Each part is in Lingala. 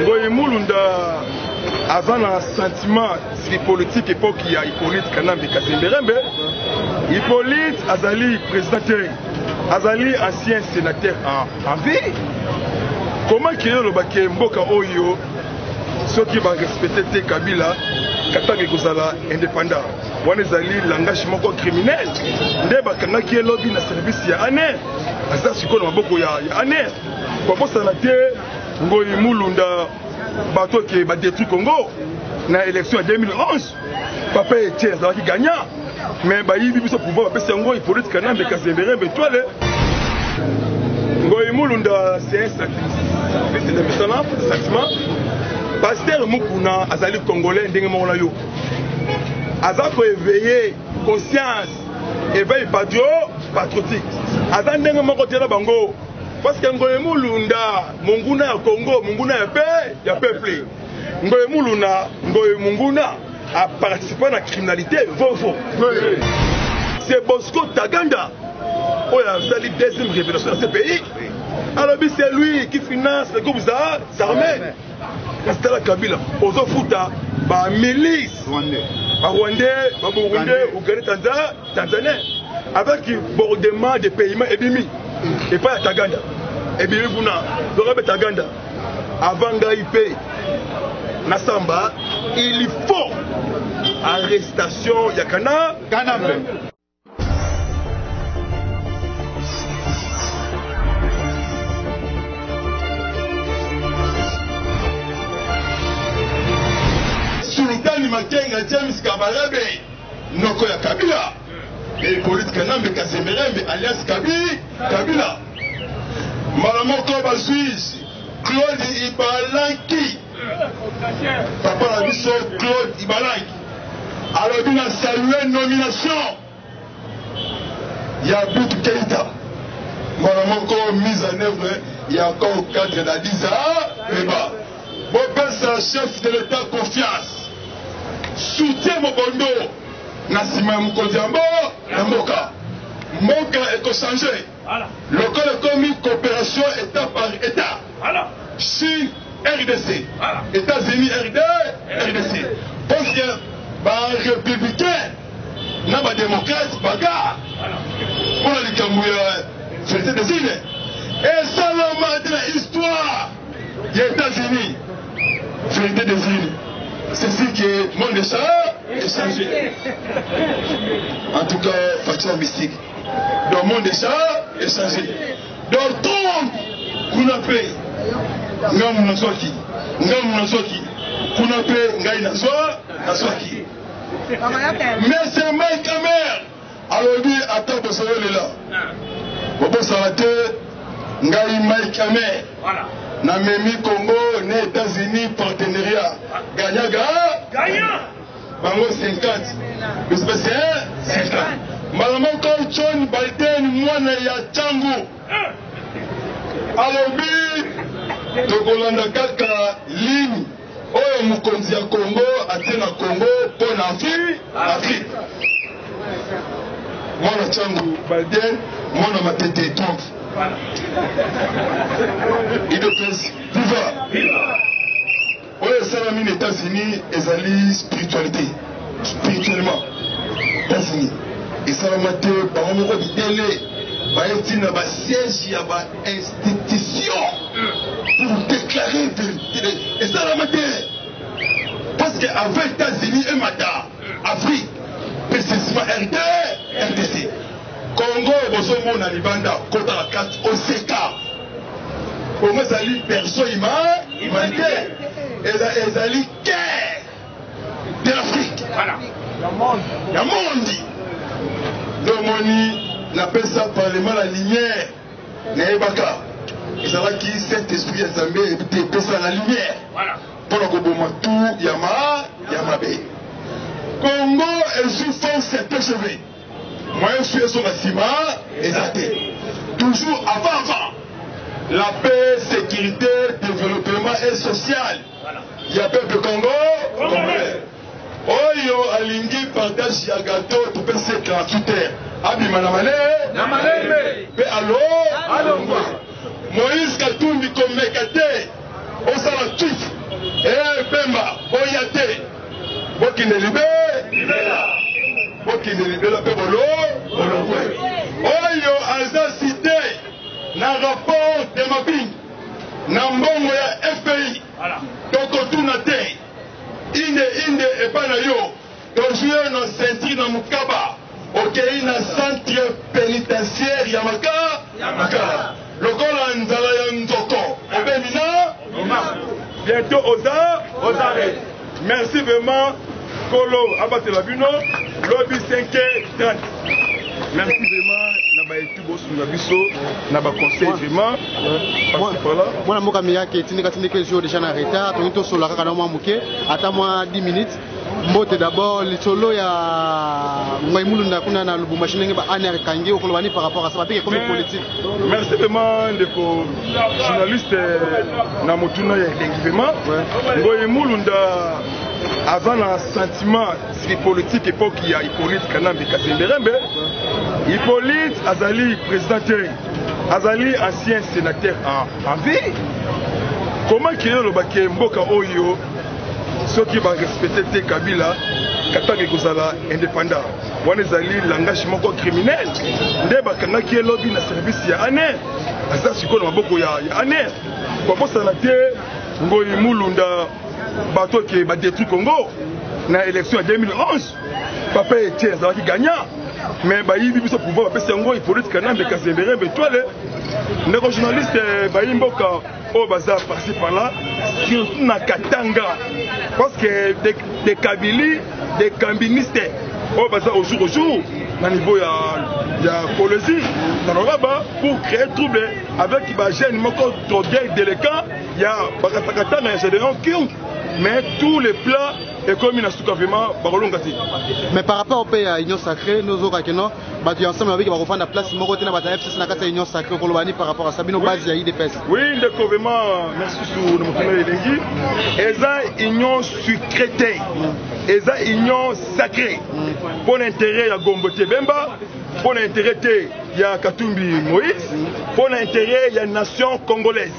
ngoyi mulunda aza na sentiment politique epoki ya hippolyte kanambe kasemberembe hippolyte azali président te azali ancien sénateur en vie comment keye olobaki mboka oyo soki barespecte te kabila katanga ekozala indépendant wana ezali langage moko criminel nde bakangaki ye lobi na service ya aner aza sikoyo na maboko ya aner kobosana te ngoyi mulunda bato ke badetruit congo na élection ya 2011 papa etie azalaki gagnant mais bayibi biso pouvoir bapesi yango ipolite kanambe kasemberembe etwale ngoyi mulunda c'est un sacrifice na misala sentiment pasteur mukuna azali congolais ndenge moko na yo aza koeveille conscience eveille patrio patriotique aza ndenge moko te na bango Parce que Ngoye Mulunda, munguna ya Congo, munguna ya pe, ya peuple. Ngoye Muluna, Ngoye Munguna, a participer na criminalité, vaut vaut. Oui. C'est Bosco Taganda, oyo azali deuxième révélation ya ce pays. Alors c'est lui qui finance le groupe Zahar, Zarmé. kasi tala kabila ozofuta ba milice ba rwandais ba burundais ougandais tanzan tanzanien avec bordement de paiement ebimi epai ya taganda ebimi kuna donc abe taganda avant ngai mpe nasamba il faut arrestation ya kana kanambe Sultani Makenga James Kabarebe noko ya Kabila Hippolyte Kanambe Kasemberembe alias Kabi Kabila mbala moko bazwi Claude Ibalanki Papa na biso Claude Ibalaki alobi na salue nomination ya Abib Keita mbala moko mise en œuvre ya accord cadre d'Addis Abeba. Bopesa chef de l'État confiance, soutien mobondo na nsima ya mokonzi ya mboka mboka ekochange. Lokola ekomi cooperation etat par etat, si RDC, Etats-Unis, RD, RDC, parce que ba républicains na ba démocrates bagarre mpo na likambo ya société de sine esalama te na histoire ya Etats-Unis. Société de sine c'est ce qui est monde de ça, c'est En tout cas, faction mystique. donc monde eza echange donc tombe kuna mpe ngambo nazwaki ngambo nazwaki kuna mpe ngai nazwa nazwaki mese mike kamer alobi ata bosoyolela bobosala te ngai mike kamer namemi congo na états-unis partenariat ganyaga Bango 50 biso pe se 50 mbala moko. John Biden mwana ya Tshangu alobi tokolanda kaka ligne oyo mokonzi ya Congo atie na Congo mpo na Afrique. Mwana Tshangu Biden mwana matete Trump idepesi viva. Oyo esalami na Etats-Unis ezali spiritualite. Spirituellement, Etats-Unis esalama te bango moko bidele baye ti na ba siège ya ba institution pour déclarer verité esalama te parce que avant Etats-Unis emata Afrique pese sima RD, RDC. Congo bozomona libanda kota na kati oseka. Congo ezali berceau ima humanité ezali cœur de l'Afrique. Voilà. Ya mondi. Domoni napesa parlement la lumière nayebaka ezalaki saint esprit ya Nzambe epesa la lumière. Voilà. mpo na koboma tu ya ma ya mabe congo ezwi force ya tgv moyen su ezonga nsima eza te toujours avant avant la paix sécurité développement et social ya peuple congo congolais Oyo alingi partage ya gateau topesi ye gratuit te abima na male na malembe pe alo alongwa moïse katumbi komeka te osala tut ee pemba boya te bokende libe bokende libela pe bolo bolongwe oyo aza site na rapport de mabing na mbongo ya fpi tokotuna te Inde inde epa na yo tozwi yo na ceinture na mokaba okei na centre penitentiaire ya makala ya makala lokola nzala ya nzoko obemi na bientôt oza oza merci vraiment kolo abatela bino lobi 5 30 merci vraiment na baye bosunga biso na baconseil vraiment mwana mboka miyake tindika tindika ezwi deja na retard tolingi tosolola kaka na mwa moke ata mwa 10 minutes mbote d'abord lisolo ya ngai mulunda kuna na lubumbashi ndenge ba ane akangi okoloba ni par rapport à ça bapeke ekomi politique merci vraiment ndeko journaliste euh, na motuna ya elengi vraiment ngoyi mulunda aza na sentiment Siki politique epoki ya Hippolyte Kanambe Kasemberembe, Hippolyte azali président te, azali ancien sénateur en, en vie. Comment qu'il oloba ke mboka oyo soki ba respecter te Kabila Katanga ekozala indépendant. Wana ezali langage moko criminel nde bakangaki ye lobi na service ya ane aza sikoyo na maboko ya, ya ane babosana te ngoyi mulunda bato ke ba détruit Congo na élection ya 2011 papa Etienne azalaki gagnant mais bayibi biso pouvoir bapesi yango Hippolyte Kanambe Kazembere Mbetwale ndeko journaliste eh, bayi mboka oyo baza parci par là surtout na Katanga parce que des de Kabili des Kambiniste oyo baza au jour au jour na niveau ya ya Kolezi na Loraba pour créer trouble avec ba jeunes moko drogués délinquants ya bakatakatana ya Gedeon King mais tous les plats ekomi na suka vraiment bakolonga te mais par rapport mpe ya union sacré nozoka keno bato ya ensemble babiki bakofanda place moko te na bato ya fcc na kati ya union sacré okoloba ni par rapport a sabino base ya idps oui ndeko vraiment merci su na mokolo elengi eza union sucré te eza union sacré mpo na intérêt ya gombo te bemba mpo na intérêt te ya katumbi moïse mpo na intérêt ya nation congolaise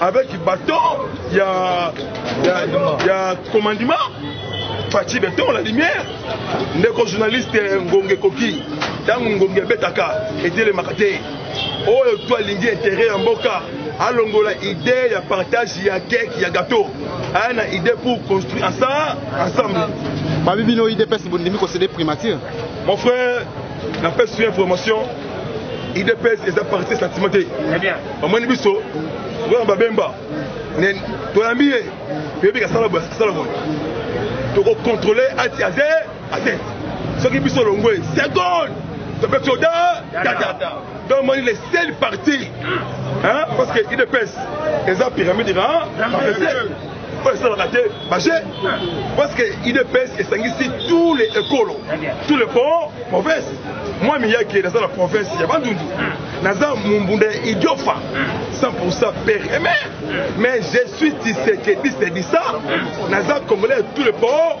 avec bâton ya ya, ya commandement pati beton la lumière ndeko journaliste ngonge koki ntango ngonge abetaka etelemaka te oyo to alingi intere ya mboka alongola idee ya partage ya keke ya gateau aya na idee pour construire ensemble ensemble babi bino idps bondimi kosede primature mon frère napesi yo information idps eza parti sentiment te bamoni biso tozana babemba toyambi ye toyebi kasala boye kasala boye tokocontrole ati aze ate soki biso longwe seconde topesi oda tata donc moni le seul parti parce que idps eza pyramide na oyo esalaka te baje parce que idps esangisi tous les ekolo tous les pont province moi miyake naza na province ya bandundu naza mumbunda ya idiofa 100 père et mère mais je suis tisekediste disa naza congolais ya tous les pont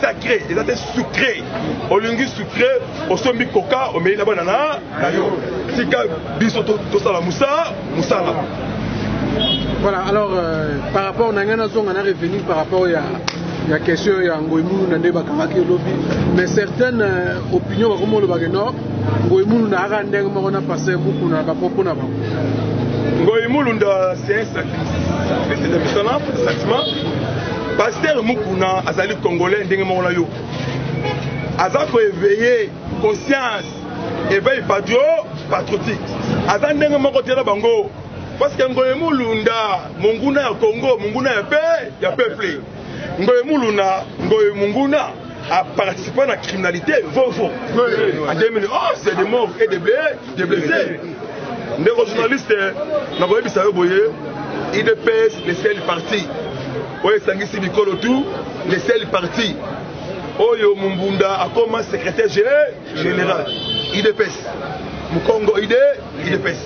sacré eza te sucré olingi sucré osombi koka omeli na bana na na yo tika biso tosala mosala mosala voilà alors euh, par rapport na ngai nazonga na revenu par rapport ya ya question ya ngoi muluna nde bakangaki elobi mais certaines euh, opinion bakomi olobake no ngoi muluna aka ndenge moko na paster mukuna bapropos na bango ngoi mulunda c'est President Misana, Satima, Pasteur Mukuna azali congolais ndenge moko na yo. Aza ko éveiller conscience, éveil patrio patriotique. Aza ndenge moko te na bango. Parce que Ngoyemulunda, monguna ya Congo, monguna ya pe ya peuple. Ngoy Muluna, Ngoy Munguna a participé à la criminalité, Vovo. En 2011, c'est des morts et des blessés. Des blessés. ndeko journaliste nakoyebisa yo boye idps le sel parti oyo esangisi bikolo tout le sel parti oyo mumbunda akoma secrétaire général idps mukongo ide idps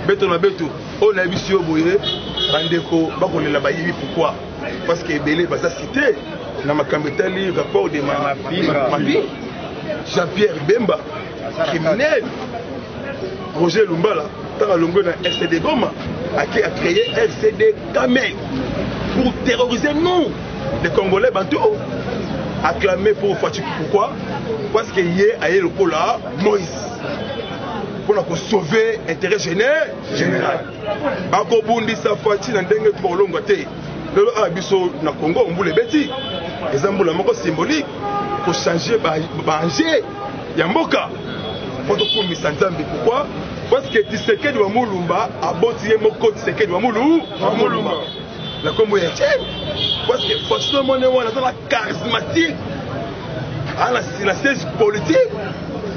beto na beto oyo nayebisi yo boye bandeko bakolela bayebi pourkui parce que ebele baza cité na makambo etali rapport de mapi jean pierre bemba criminel roger lumbala ntango alongwe na rcd goma ake acreye rcd kamel pour terroriser nous les congolais bantu acclamé pour fatshiki pourquoi parce que ye aye lokola moïse mpo na kosauve intérêt général akobundisa faci na ndenge tokolongwa te lelo awa biso na congo mbula ebeti eza mbula moko symbolique kochange baange ya mboka mpo tokumisa nzambe pourkui parce que tisekedi wa mulumba aboti ye moko tisekedi wa mulumba na nkombo ya ce parce que façon mone wana azala charismatique ana na siège politique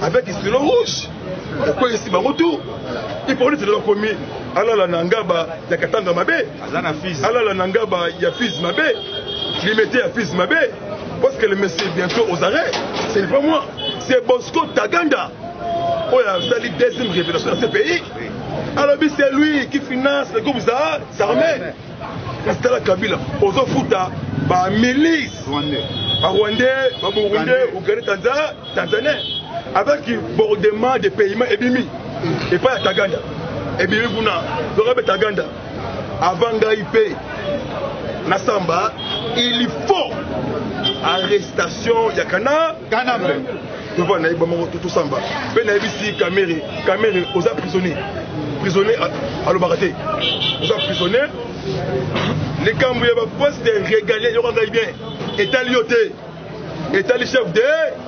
avec stylo rouge okweyisi bango tu ipolisi lelo akomi alala na ngaba ya katanga mabe alala na ngaba ya fizi mabe limete ya fizi mabe parce que le monsieur bientôt aux arrêts ce n'est pas moi c'est bosco taganda oyo asali deuxième révélation ya ce pays alobi c'est lui qui finance le groupe za armée kasi tala kabila ozofuta ba milice ba rwandais ba burundais ougandais tanzan tanzanien avec bordement de paiement ebimi epai ya taganda ebimi kuna donc abe taganda avant ngai mpe nasamba il faut arrestation ya kana kanambe devoir na ye bango tosamba mpe nayebisi kamere kamere oza prisonnier prisonnier alobaka te oza prisonnier likambo ya baposte de régalien yoka ngai bien etali yo te etali chef de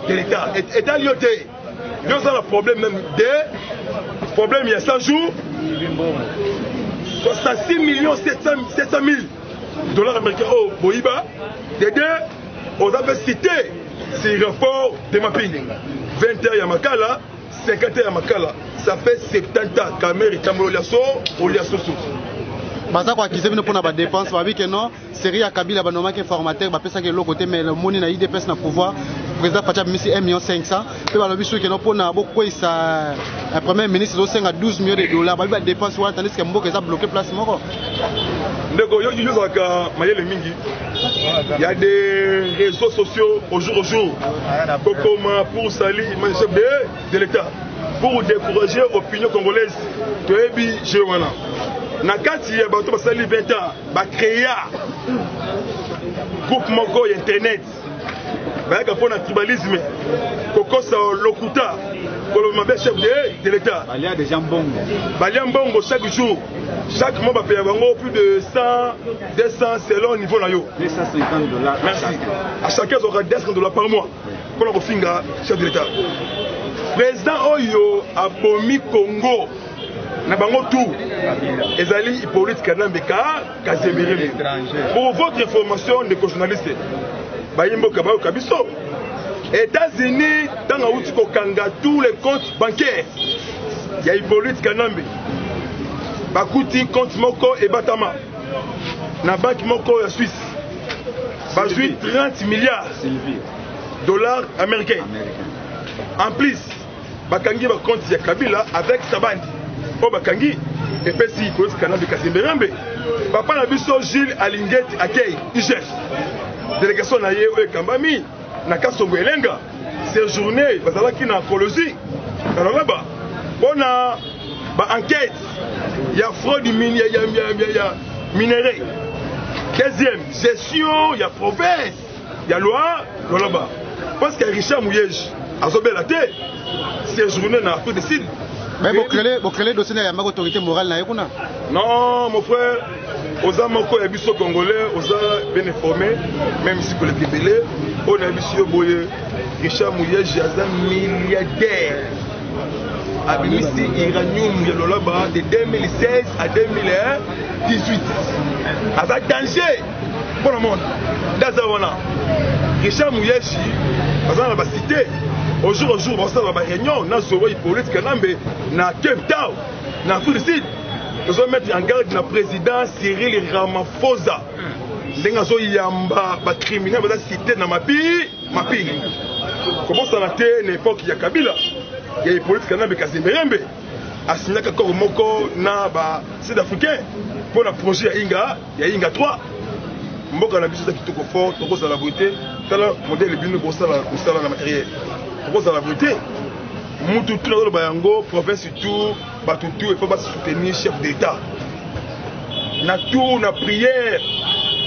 de l'état etali yo te yo oza na problème même de problème ya 100 jours 66 millions 700 000 dollars américains oyo oh, boyiba de deux oza mpe cité si renfort de mapingi 20 heures ya makala 50 heures ya makala ça fait 70 ans kamere etambolo lya so olya soso baza koakize bino mpona badepense babi ke non série ya kabila banomaki informateur bapesaki eloko te mais omoni na idps na pouvoir président faci abimisi 1 million 500 mpe balobi soki keno mpona bokweyisa eh, premier ministre ezosenga 12 millions de dollars balobi badepense wana tandiske mboka eza bloke place moko ndeko yo ozalaka mayele mingi ya des réseaux sociaux au jour au jour kokoma pour sali chef de, de l'état pour décourager opinion congolaise toyebi jeu wana na kati ya bato basali 20 ans bacréa groupe moko ya internet bayaka mpo na tribalisme kokosa lokuta koloba mabe chef de, de l'état balia déjà mbongo balia mbongo chaque jour chaque mois bapeya bango plus de 100 200 selon niveau na yo 250 dollars merci à chacun azwaka 200 dollars par mois mpo na kofinga chef de l'état président oyo abomi congo na bango tout ezali hypolite kanambe car kazemire pour votre information ndeko journaliste bayimboka bayoka biso états-unis ntango awuti kokanga tous les comptes bancaires ya hippolyte kanambe bakuti compte moko ebatama na banki moko ya suisse bazwi 30 milliards dollars américains en plus bakangi ba compte ya kabila avec sabandi oyo bakangi epesi koyesi kanambe kasemberambe papa na biso jules alingeti akei igf delegation na ye oyo ekambami na kasongo elenga séjourne bazalaki na colosie na lolaba mpo na baenquête ya fraude ya minerai deuxième gestion ya province Ya loi loloba parce que Richard Mouyeji azobela te séjourner na Afrique du Sud. Mais vous créez vous créez dossier na yamba autorité morale na yekuna. Non mon frère oza moko ya biso congolais oza bien informé même si koleka ebele oyo na biso yo boye richard muyeji aza milliardaire abimisi iranium ya lolaba de 2016 à 2018 aza danger Pour le monde, Gaza wana, Richard Mouyashi, baza na basite, au jour au jour, basala na baréunion, na Zowa Hippolyte Kanambe, na Cape Town, na Afrique du Sud, tozo mettre en garde na président Cyril Ramaphosa. ndenge azoyamba bacriminel baza site na mapi mapingi kobosana te na epoke ya kabila ya hippolyte kanambe kazemberembe asignaka koro moko na ba sud africain mpo na projet ya inga ya inga 3 mboka na biso eza kitoko fort tokozala boye te tala modele bino bosala kosala na materiel tokozala boye te mutu tu nazoloba yango province tour bato tour epo basoutenir chef d'état na tour na prière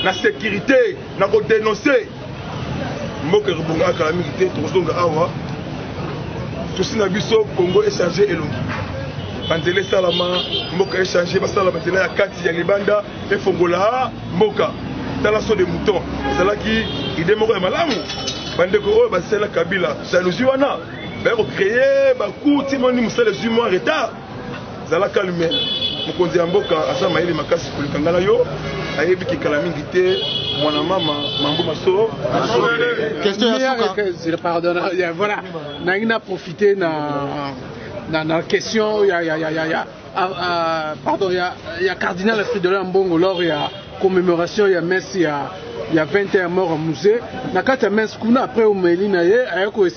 na sécurité na kodenonce mboka ekobonga kala mingi te tokozonga awa susi na biso congo echange elongi banzela esalama mboka echange basala banzela ya kati ya libanda efongola mboka tala so de mouton ezalaki ide moko ya malamu bandeko oyo basala kabila jalousie wana baye kocreye bakuti moni mosala ezwi mwa retard zala calme mokonzi ya mboka aza mayele makasi koleka ngai na yo ayebi kikala mingi te mwana mama mambo maso voilà nangi na profite na na, na question ya, ya, ya, ya, ya, a, a, pardon, ya, ya cardinal Fridolin Mbongo lors ya commémoration ya messe ya, ya 20 ya mort ya musée na kati ya messe kuna après omeli na ye aye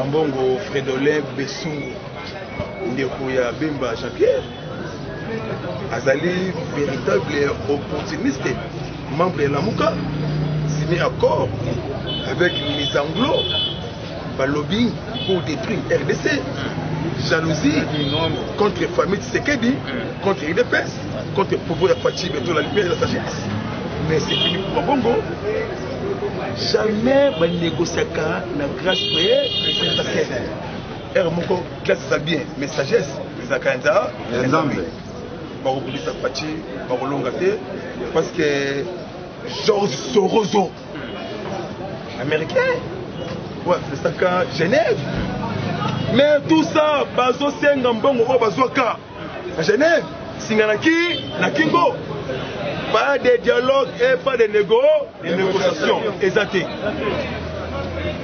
Ambongo Fredolin Besungu ndeko ya Bemba Jean-Pierre azali véritable opportuniste membre ya Lamuka signé accord avec les Anglo balobi pour détruire RDC jalousie contre famille Tshisekedi contre UDPS Kote popo ya Fatshi beto la lumière de la sagesse. Mais c'est fini pour ma bongo. Jamais ba négociaka na grâce mais parce que erreur moko classe ça bien mais sagesse ça kanza nzambe. Bakobulisa Fatshi bakolonga te parce que George Sorozo américain ouais, c'est ça Genève mais tout ça bazosenga mbongo oyo bazwaka Na Genève, singa na ki na kingo. Pas de dialogue et pas de négo, de négociation. Eza te.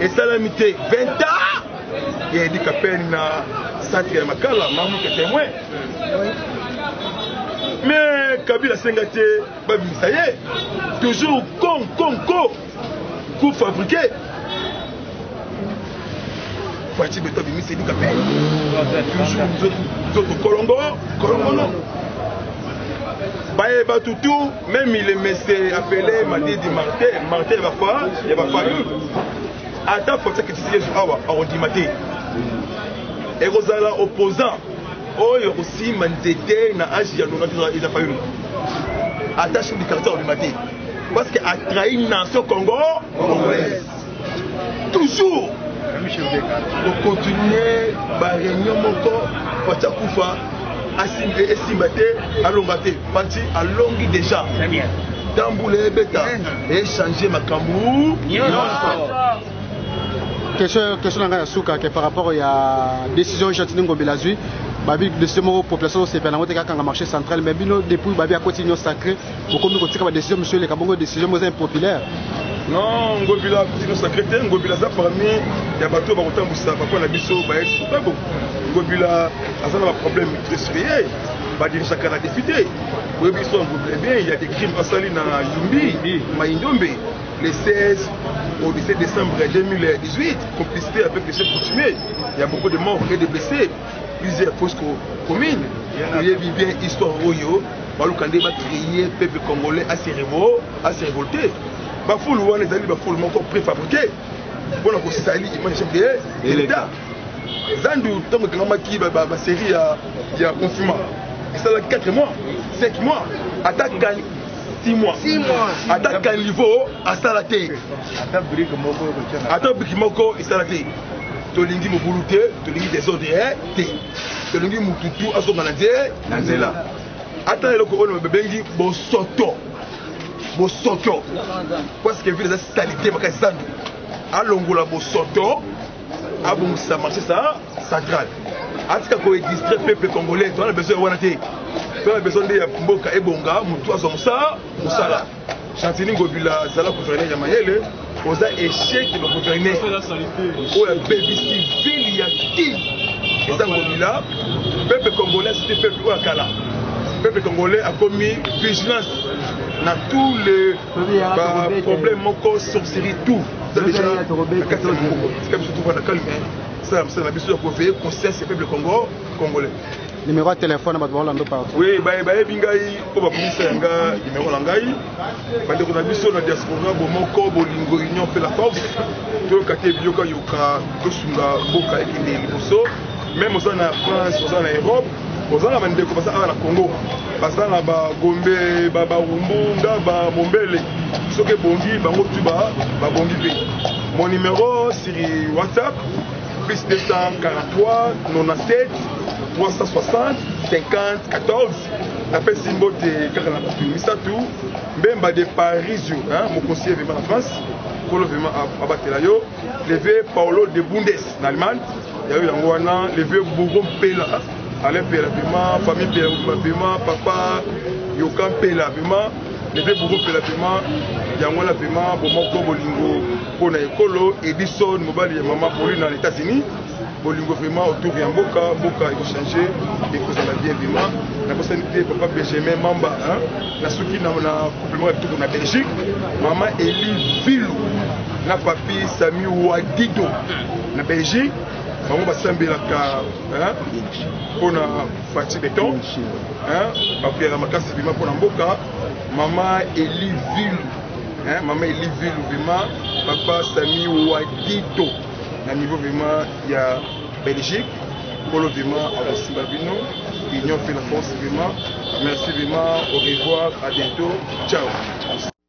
Esalami te 20 ans. Il a dit qu'à peine na centre ya Makala, mamu ke témoin. Mais Kabila senga te babimisa ye. Toujours con con con. coup fabriqué faci beto abimisi elika mpe toujours nzoto kolongo kolongono baye bato tout même il est mese appelé madidi martin martin ya bafa ya bafamille ata faci akitisi yesu awa akondima te ekozala opposant oyo akosimba nzete na age ya longa eza fayulu ata chef du quartier akobima te Parce que a trahi nation Congo congolaise. Toujours kokontinue bareunion moko pati akufa esimba te alonga te pati alongi déjà ntango mbula ebeta echange makambo question na ngai ya suka ke par rapport ya décision gentini ngobela azwi babi décision moko population osepela yango te kakanga marché central mais bino depuis babi akoti union sacré bokomi kotika ba décision monsieur eleka bongo décision moko eza impopulaire non ngobila kino secrétaire ngobila aza parmi ya bato oyo bakotambwisa bakwa na biso baesukago ngobila aza na baproblème trésorier badirisaka na député boyebi biso ya ngobila bien ya des crimes asali na yumbi maindombe le 16 au 17 décembre 2018 complicité avec le chef coutumier il y a beaucoup de morts et de blessés plusieurs fausses communes toyebi bien histoire oyo baluka nde bacreye peuple congolais ase révolte bafulu wana ezali bafulu moko préfabriqué mpona kosali image ya chef de l'état zandu ntango ekangamaki basérie ya confinement esalaki 4 mois 5 mois ata 6 mois ata caniveau asala te ata briki moko esala te tolingi mobulu te tolingi desordre eh, te tolingi motu tu azonga na nze na nzela ata na eloko oyo babengi bosoto bosoto parce que ville eza salite makasi zandu alongola bosoto abongisa marché sa central atika koexistre peuple congolais toana besoin ya wana te toana besoin nde ya mboka ebonga motu azwa mosala mosala Chantini Ngobila zala gouverneur ya mayele oza echec na gouverneur oyo abebisi ville ya ki eza Ngobila peuple congolais c'était peuple oyo akala peuple congolais akomi vigilance na tous les problème moko sorcerie tout eza déjà na kati ya mokoko tika biso tuvanda calme sala mosala na biso ya koveye conscience ya peuple congo congolais Numéro ya telefone bato bakolanda partout. Oui, baye bayebi ngai oyo bakomisa ya nga numéro na ngai bandeko na biso na diaspora bomoko bolingo union mpe la force toyoka te biyokayoka tosunga mboka ekende liboso meme oza na france oza na europe oza na bandeko baza awa na congo baza na bagombe babarumbu ngaba mombele soki ebongi bango tu babongi mpe mon numéro sur whatsapp plus 243 97 360 50 14 napesi mbote kaka na bato misato mbemba de parisio mokonsi evema na france nkolo vema abatela yo leve paolo de bundes na allemagne yayo yango wana leve bourgo mpela alain mpela vema famille mpela mobima vema papa yoka mpela vema Bebe Bobo mpela pema yango wana pema bomoko bolingo mpo na ekolo Edison mobali ya mama Pauline na Etats-Unis bolingo vraiment autour ya mboka mboka ekochange ekozala bien vraiment nakosani te papa benjamin mamba nasuki na compliment ya kitoko na belgique mama eli vilu na papi sami wadido na belgique bango basambelaka mpona Fatshi Beton, hein, bakuyaka makasi bima pona mboka, mama Eli Vilu, hein, mama Eli Vilu bima, papa Sami Wagito, na niveau bima ya Belgique, Polo bima akosimba bino, Union fait la force bima, merci bima, au revoir, à bientôt, ciao.